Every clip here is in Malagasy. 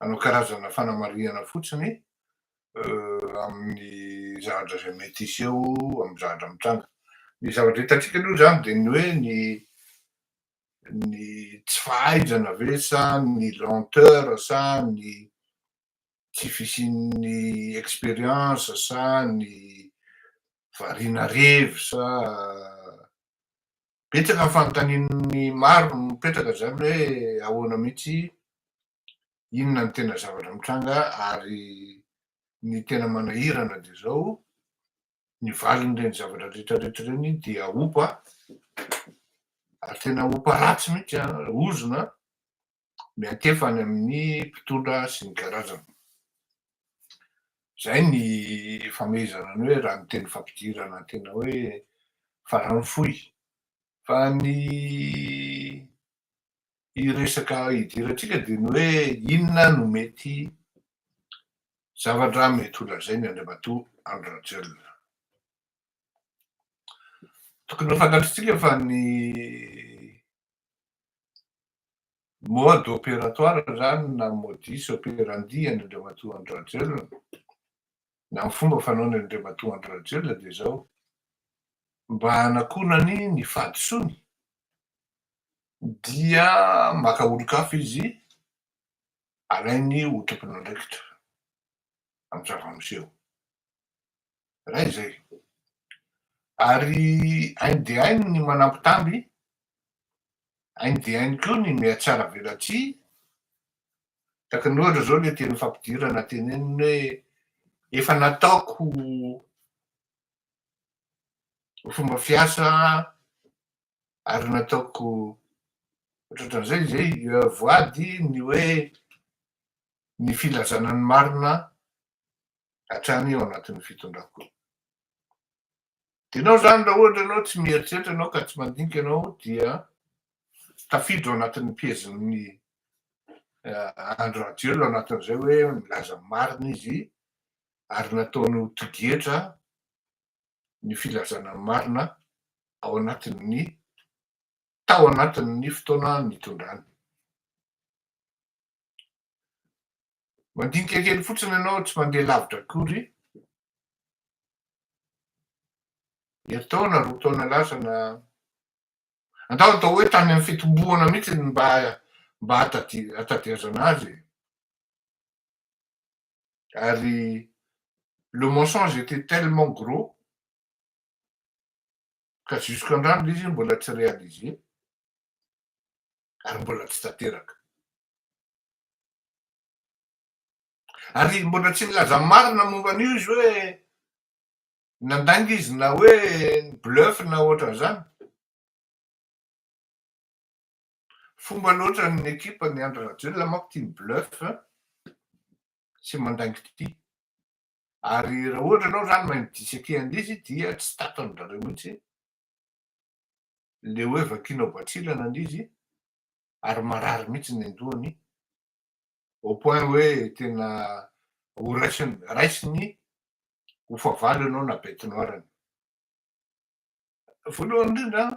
hanao karazana fanamarihana fotsiny amin'ny zavatra izay mety hiseho amin'ny zavatra mitranga. Ny zavatra hitantsika aloha izany dia ny hoe ny ny tsy fahaizana ve sa ny lenteur sa ny tsy fisian'ny expérience sa ny variana revy sa Betsaka ny fanontanian'ny maro mipetraka izany hoe ahoana mihitsy, inona ny tena zavatra mitranga ary ny tena manahirana dia izao, ny valin'ireny zavatra rehetrarehetra ireny dia opa, ary tena opa ratsy mihitsy an, ozona an. miantefa any amin'ny mpitondra sy ny karazana. Izay ny famehezana ny hoe raha ny teny fampidirana tena hoe farany fohy. Fa ny resaka idirantsika dia ny hoe inona no mety zavatra mety ho lazainy Andriamatoa Andry Rajoelina. Tokony ho fantatritsika fa ny mode opératoire izany na modus operandi an'Andriamatoa Andry-Rajoelina na ny fomba fanaony an'Andriamatoa Andry-Rajoelina dia izao, mba hanakonany ny fahadisoany dia maka olon-kafa izy alainy ho tompon'andraikitra amin'ny zava-miseho. Iray izay. Ary hainy dia hainy ny manambitamby, hainy dia hainy koa ny mihatsaravelatsihy, tahaka ny ohatra izao ilay teny fampidirana teneniny hoe efa nataoko ho fomba fiasa ary nataoko ohatran'izay izay voady ny hoe ny filazana ny marina hatrany ao anatin'ny fitondram-po. Dinao izany raha ohatra ianao tsy mieritreritra ianao ka tsy mandinika ianao dia tafiditra ao anatin'ny piezin'ny Andry Rajoelina ao anatin'izay hoe milaza ny marina izy ary nataony ho tigetra ny filazana ny marina ao anatin'ny tao anatin'ny fotoana nitondrany. Mandinika kely fotsiny ianao, tsy mandeha lavitra akory. Herintaona, roa taona lasa na andao atao hoe tany amin'ny fitomboana mihitsy ny mba mba hatadiazana azy. Ary le mensonge était tellement gros ka jusqu'à androany le izy mbola tsy réalisé. ary mbola tsy tanteraka. Ary mbola tsy milaza marina momba an'io izy hoe nandainga izy na hoe bluff na ohatran'izany. Fomba loatra ny ekipa ny Andry Rajoelina manko tia mi-bluff sy mandainga ity. Ary raha ohatra ianao izany mahay mi-dissequer an'izy dia tsy tato an-dry zareo mihitsy le hoe vakiana ao Batsilana ny izy ary marary mihitsy ny an-dohany au point hoe tena ho raisiny, raisiny ho fahavalo ianao na bete noire ny. Voalohany indrindra an,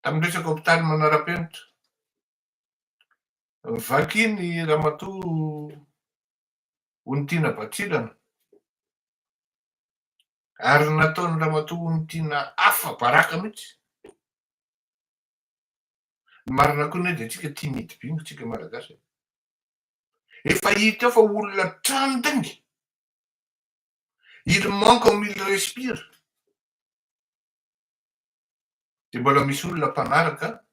tamin'ny resaka hopitaly manara-penitra, vakiany Ramatoa Ony Tiana Batsilana ary ny nataon'i Ramatoa Ony Tiana afa baraka mihitsy. Ny marina koa anie dia tsika tia mihidy bingo tsika Malagasy e. Efa hita eo fa olona tranding. Il manque comme il respire. Dia mbola misy olona mpanaraka,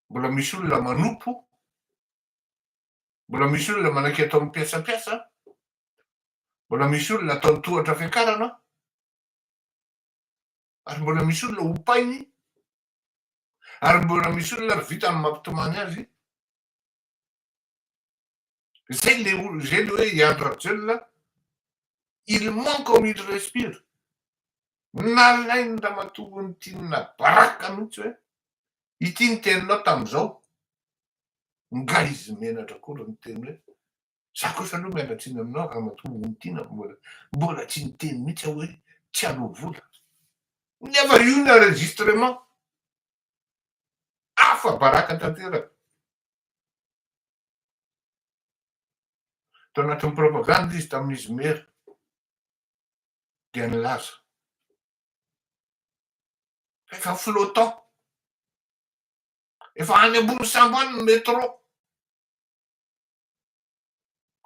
mbola misy olona manompo, Mbola misy olona manaiky atao ny piasampiasa an! Mbola misy olona atao ny tohatra fiakarana an! Ary mbola misy olona opainy, ary mbola misy olona ary vitany ny mampitomany azy. Izay ilay olona, izay ilay hoe i Andry Rajoelina, il ment comme il respire. Nalain'ny ramatoa Tinina baraka mihitsy hoe Ity niteny Lot amin'izao, Nga izy menatra koa raha niteny hoe, Za kosa aloha miala tsiny aminao ramatoa Ontiana, mbola mbola tsy niteny mihitsy aho hoe tsy aleo vola. Nefa io ny enregistrement. Afa-baraka tanteraka. Tao anatin'ny propagande izy tamin'izy Mera dia nilaza Efa flottant. Efa any ambony sambo any ny metro.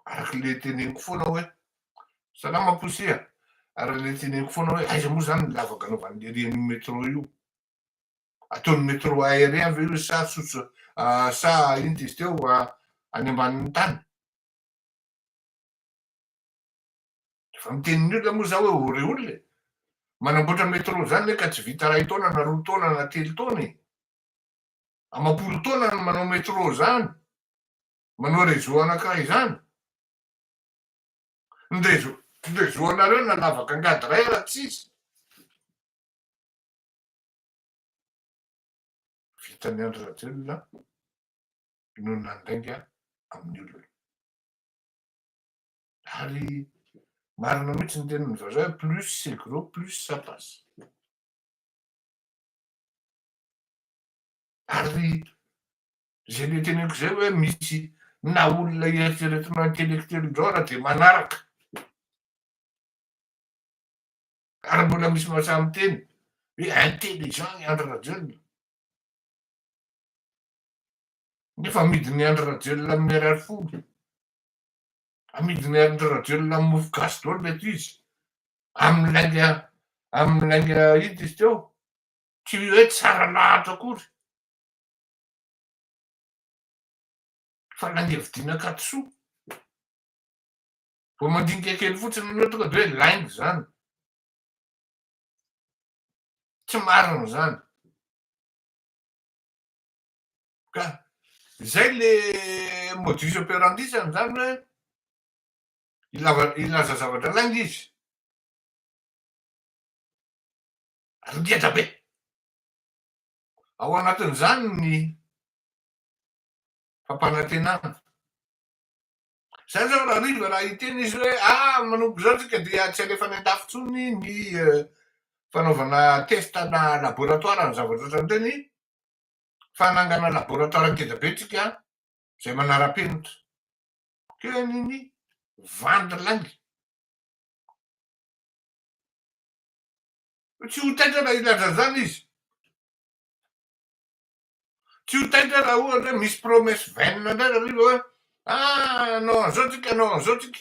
Araka le teneniko foana hoe, salama Poussy a! araka le teneniko foana hoe aiza moa zany ny lavaka anaovan'ny rian'io metro io? Ataon'ny metro aérien ve io sa tsotso sa inona izy teo any ambanin'ny tany? Efa mitenin'ny olona moa za hoe ore olona e. Manamboatra metro zany le ka tsy vita ray taona na roa taona na telo taona e. Amapolo taona no manao metro zany, manao reseau anakiray zany. Ny reseau ny reseau anareo na lavaka angady ray ara tsisy. Vitan'i Andry Rajoelina no nandainga amin'ny olona. Ary marina mihitsy ny tenin'ny vazaha hoe plus c'est gros, plus ça passe. Ary izay noteneniko izay hoe misy na olona eritreretina intellectuel indreo ary dia manaraka. Ary mbola misy vazaha miteny hoe intelligent i Andry Rajoelina. Nefa amidin'i Andry Rajoelina amin'ny ariary folo. amidinay amindry rajoelina am mofo gasy daholo reto izy am lainga am lainga id izy teo tsy oe tsara lahatra akory fa lainga vidina akaty soa vao mandinika kely fotsiny anao tonga de oe lainga zany tsy marina zany Ka izay le modus operandi-zany, izany hoe ilava- ilaza zavatra lainga izy. Ary ngeda be. Ao anatin'izany ny fampanantenana. Izany izao raha hariva raha hiteny izy hoe ah manomboka izao tsika dia tsy alefa any an-dafy intsony ny eh, fanaovana test-na laboratoire ny zavatra ohatran'ireny, fa nangana laboratwara ngeda be tsika zay manarapenitra teny ny vandy lainga tsy ho taitra raha hilaza zany izy tsy ho taitra raha ohatra hoe misy promesse vaine ndray raha riva hoe ah anao an'zao tsika anao an'zao tsika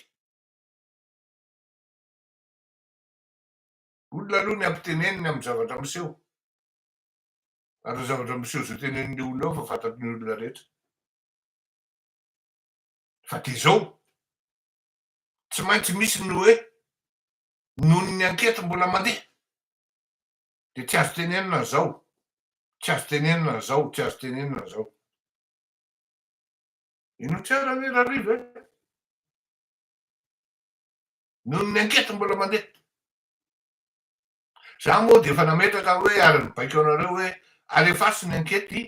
olona aloha ny ampiteneniny amin'ny zavatra miseho Ary ny zavatra miseho izao tenenin'io olona io efa fantatry ny olona rehetra fa dia izao. Tsy maintsy misy ny hoe noho ny anketry mbola mandeha dia tsy azo tenenina an'izao, tsy azo tenenina an'izao, tsy azo tenenina an'izao. Ino tsara anie Rariva e? Noho ny anketry mbola mandeha. Za moa dia efa nametraka hoe ary mibaiko anareo hoe alefaso ny ankety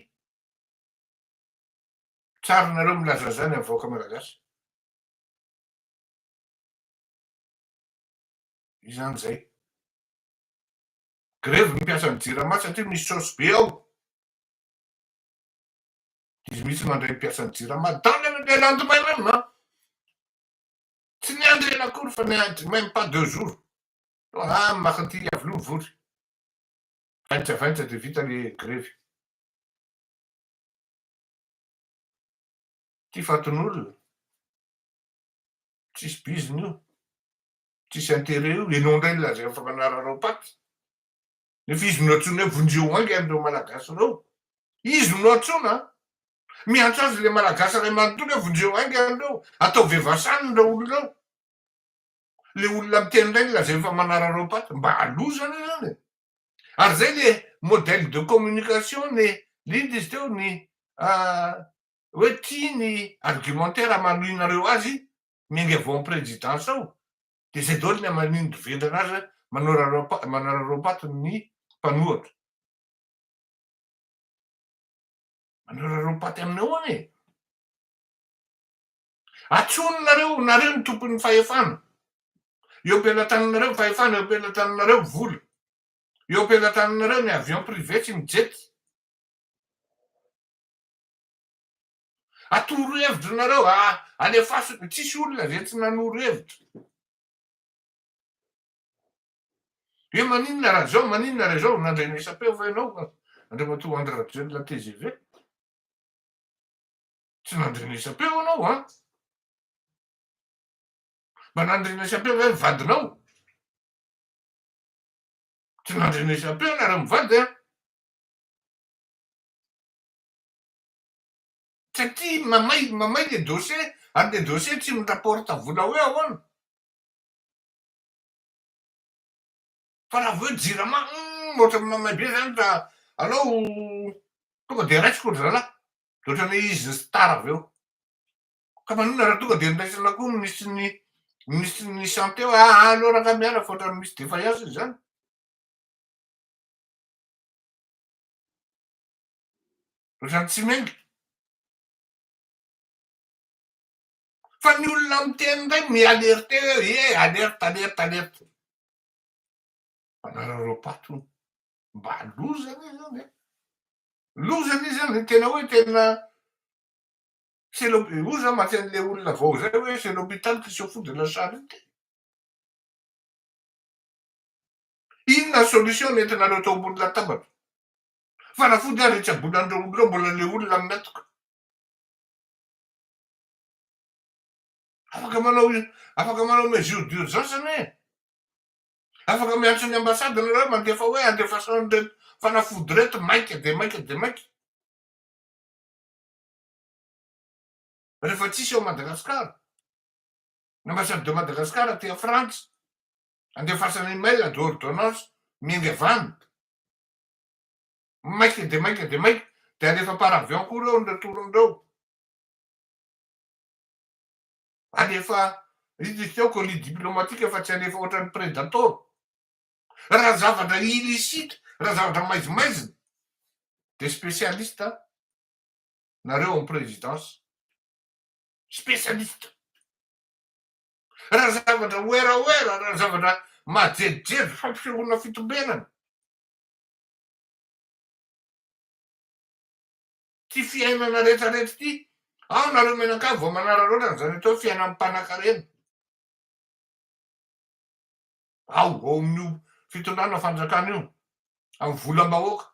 tsary nareo milaza zany amin'ny vahoaka malagasy. Izany zay. Grevy ny mpiasan'ny jirama satria misy saosy be ao. Izy mihitsy mandray ny mpiasan'ny jirama. Dans le le lendemain même hein. Tsy ny andro ela akory fa ny andro même pas deux jours. Raha ny maka an'ity Iavoloha vory, vaintravaintra dia vita le grevy. Ity fatin'olona, tsisy biziny io, tsisy intérêt io, ianao indray lazaina fa manararao paty, nefa izy no antsoina hoe vonjeo ainga an'ireo Malagasy ireo, izy no antsoina an! Miantso azy le Malagasy iray manontolo hoe vonjeo ainga an'ireo, ataovy evasan ireo olona ireo. le olona miteny reny lazainy fa manarareo patte mba loza aloha zany e ary zay le modèle de communication ny Linda izy teo ny hoe tia ny argumentaire hamaloinareo azy miainga vao am présidence ao de zay daoly ny aman'indry vendrana azy hoe manarareo patte ny mpanohatra manarareo patte aminao any e Atsoninareo, nareo ny tompon'ny fahefana eo am-pelatananareo, fahefana eo am-pelatananareo, vola eo am-pelatananareo, ny avion privé sy ny jet. Atoro hevitra nareo, alefaso, tsisy olona ve tsy nanoro hevitra. Hoe maninona raha zao, maninona raha zao, nandray ny SAP va ianao, Andriamatoa Andry Rajoelina tgv. Tsy nandrenesam-peo ianao an! Mba nandrenesam-peo ve ny vadinao? Tsy nandrenesam-peo ianareo mivady an! Satria mamay mamay le dossier ary le dossier tsy mi-rapporte vola hoe ahoana. Fa raha vao hoe jirama hum ohatran'ny mamay be zany raha alou tonga de raisiko ry zalahy. de ohatran'ny izy ny star avy eo. Ka maninona raha tonga dia niraisana koa ny minisitrin'ny minisitrin'ny santé hoe aa aleo rangahy miala fa ohatran'ny misy défaillance izany. Ohatran'ny tsy miainga. Fa ny olona miteny indray mi-alerte hoe ie alerte alerte alerte. Mpanara-raopaty hono. Mba loza ve zany e? Loza ve zany? Tena hoe tena c'est l'hôpi- hoy za maty an'le olona vao zay hoe c'est l'hôpital qui se fout de la charité. Inona solution nentinareo tao ambony latabatra? Fanafody ary hitsaboanan'ireo olona ireo mbola le olona mihatoka. Afaka manao afaka manao mesure d'urgence anie. Afaka miantso ny ambassade nareo mandefa hoe andefasao an'ireto fanafody ireto maika dia maika dia maika. Rehefa tsisy ao Madagascar. Ny ambassade de Madagascar aty a Frantsa. Andefasana email de ordonnance miainga avy any. Maika dia maika dia maika. Dia alefa par avion koa ireo ny retourny ireo. Alefa Ridritra ao colis diplomatique fa tsy alefa ohatran'ny predator. Raha zavatra illicite, raha zavatra maizimaizina dia spécialiste nareo ao présidence. Spécialiste. Raha zavatra werawera, raha zavatra majerijery fampisehoana fitombenana. ty fiainana retraretra ty ao nareo mianakavy vao manararaotra anzany atao fiainam panakarena ao ao amin'io fitondrana fanjakana io amin'ny volam-bahoaka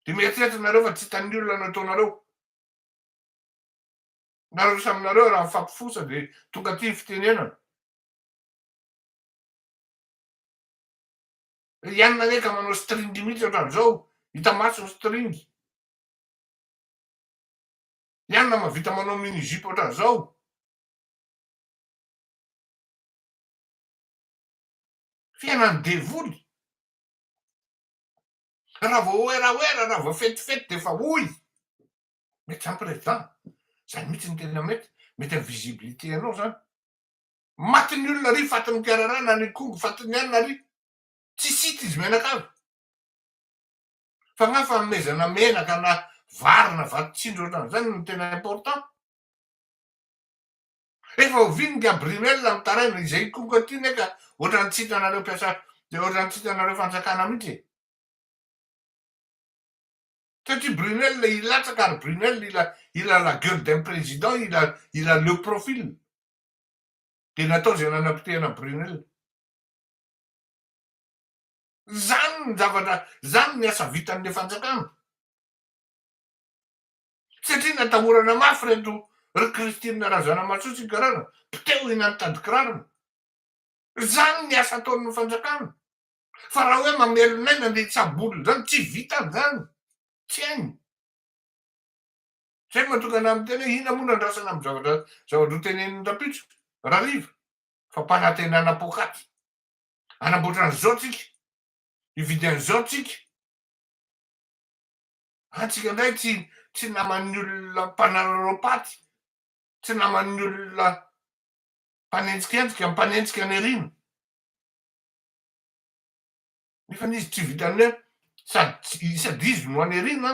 de mieritreritra nareo fa tsy hitan'ny olona no ataonareo nareo samy nareo raha mifampifosa de tonga ty fitenenana Ry anona anie ka manao string mihitsy ohatran'izao, hita maso ny string. Ry anona mahavita manao mini jupe ohatran'izao. Fiainan'ny devoly. Raha vao oeraoera, raha vao fetifety dia efa hoy. Mety zany président. Zany mihitsy no tena mety. Mety amin'ny visibilité anao zany. Maty ny olona ry fatin'ny mpiararana ny kongo fatin'ny anona ry tsy sita izy mianakavy fa nga fanomezana menaka na vary na vato tsindry ohatrany zany no tena important efa oviny Gabriel mitaraina izay kongo aty ne ka ohatrany tsy hitanareo mpiasa dia ohatrany tsy hitanareo fanjakana mihitsy satria Brunel hilatsaka ary Brunel il a la gueule d'un président il a il a le profil Dia natao izay nanapotehana an'i Brunel. Izany no zavatra, izany ny asa vitan'ilay fanjakana. Satria natahorana mafy ireto ry Christine Razanamahasoa sy Garana, potehina ny tadikirarony. Izany ny asa ataon'ny fanjakana. Fa raha hoe mamelon'aina an'ireny tsabolona izany, tsy vitany izany. Tsy hainy. Tsy haiko mantsy tokana miteny hoe inona moa no andrasana amin'ny zavatra zavatra hotenenin'ny rampitso, rariva, fa mpanantenana poakaty. Hanamboatra an'izao tsika, hividy an'izao tsika. Antsika indray tsy tsy naman'ny olona mpanararaopaty, tsy naman'ny olona mpanenjikenjika, mpanenjika any aoriana. Nefa izy tsy vitan'ny hoe sady sady izy no any aoriana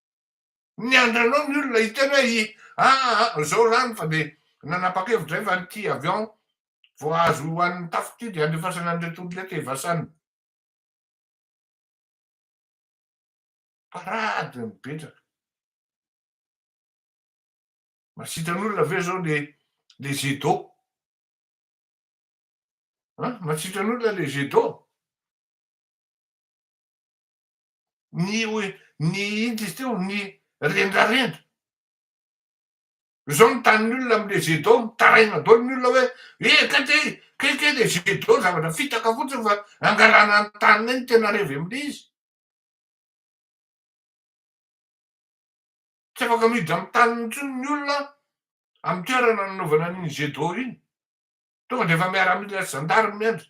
Niandry anao ny olona hiteny hoe i aa zao lany fa dia nanapa-kevitra efa ity avion vao azo ho an'ny tafi ty dia andefasana an'ireto olona eto evasana. Parade mipetraka. Masitran'olona ve zao le le jet d'eau? An, masitran'olona le jet d'eau? ny ny inona izy teo ny rendrarendra zao ny tanin'ny olona amle jet d'eau mitaraina daholo ny olona hoe eh kay ty kay kay le jet d'eau zavatra fitaka fotsiny fa angalana ny taniny eny tena revy amle izy tsy afaka miditra amin'ny taniny intsony ny olona amin'ny toerana nanaovana an'iny jet d'eau iny tonga de efa miaramila sy zandary miandry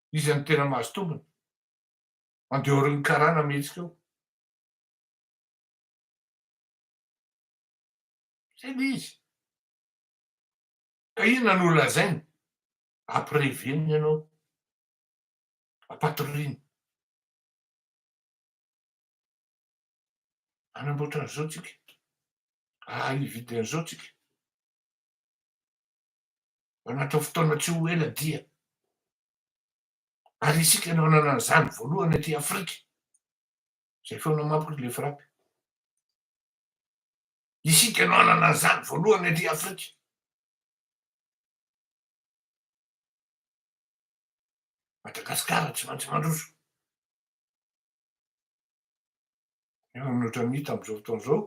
Iza no tena mahazo tombony? Mandeha aorian'ny karana mihetsika eo. Izay ilay izy. Ka inona no holazainy? Ampireveniny ianao. Ampatoriany. Hanamboatra an'izao tsika. Hahay hividy an'izao tsika. Anatin'ny fotoana tsy ho ela dia. Ary isika no hanana an'izany voalohany aty Afrika. Izay feona mapky ilay frappe. Isika no hanana an'izany voalohany aty Afrika. Madagasikara tsy maintsy mandroso. Nefa mihoatra ny hita amin'izao fotoana izao.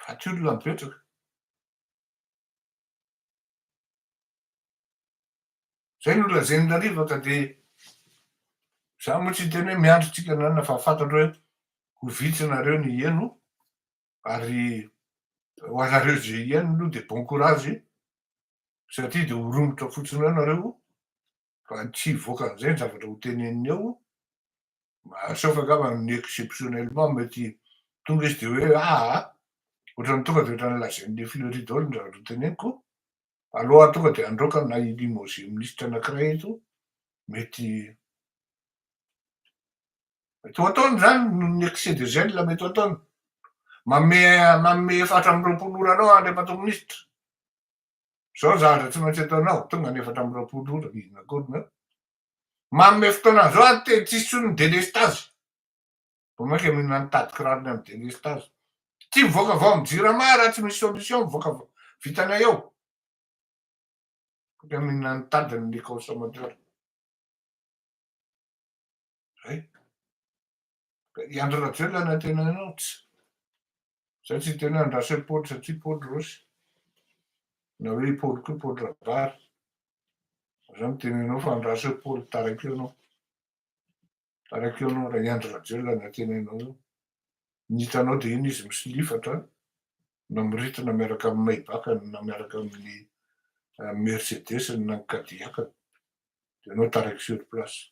Ratsy olona mipetraka. Izay no lazain'i Lalivaka dia za moa tsy hiteny hoe miandry tsika na na fa fantatro hoe ho vitsy nareo ny hieno ary ho anareo izay hieno aloha dia bon courage satria dia ho romotra fotsiny eo nareo Raha ny tsy hivoaka an'izay ny zavatra ho teneniny eo, sauf angamba ny exceptionnellement mety tonga izy dia hoe aa! ohatran'ny tonga dia ohatran'ny lazain'i le Fleury daholo ny zavatra ho teneniko, alou aho tonga dia handroaka na hi limoger ministra anankiray eto, mety mety ho ataony izany noho ny excès de zèle mety ho ataony, manome efatra amby roapolo ora anao Andriamatoa Ministra, Zao zandry tsy maintsy ataonao tonga ny efatra amby roapolo ora inona akory ny eo. Manome fotoana zao aho tena tsisy tsony ny delestage. Vao mainka mino na nitady kiraro ny amin'ny delestage. Tsy mivoaka vao amin'ny jirama raha tsy misy solution mivoaka vitanay eo. Dia mino na nitady ny consommateur. Zay. I Andry Rajoelina no antenaina anao tsy. Zay tsy hiteny hoe andraso i Paoly satria Paoly Rosy. Na hoe i Paoly koa Paoly Rabary. Zay no tenenao fa andraso i Paoly taraiky eo anao. Taraiky eo anao raha i Andry Rajoelina no antenainao eo. Ny hitanao dia iny izy misilifatra na miritina miaraka amin'ny Maybach-ny na miaraka amin'ny Mercedes-ny na ny Cadillac-ny. Dia ianao taraiky sur place.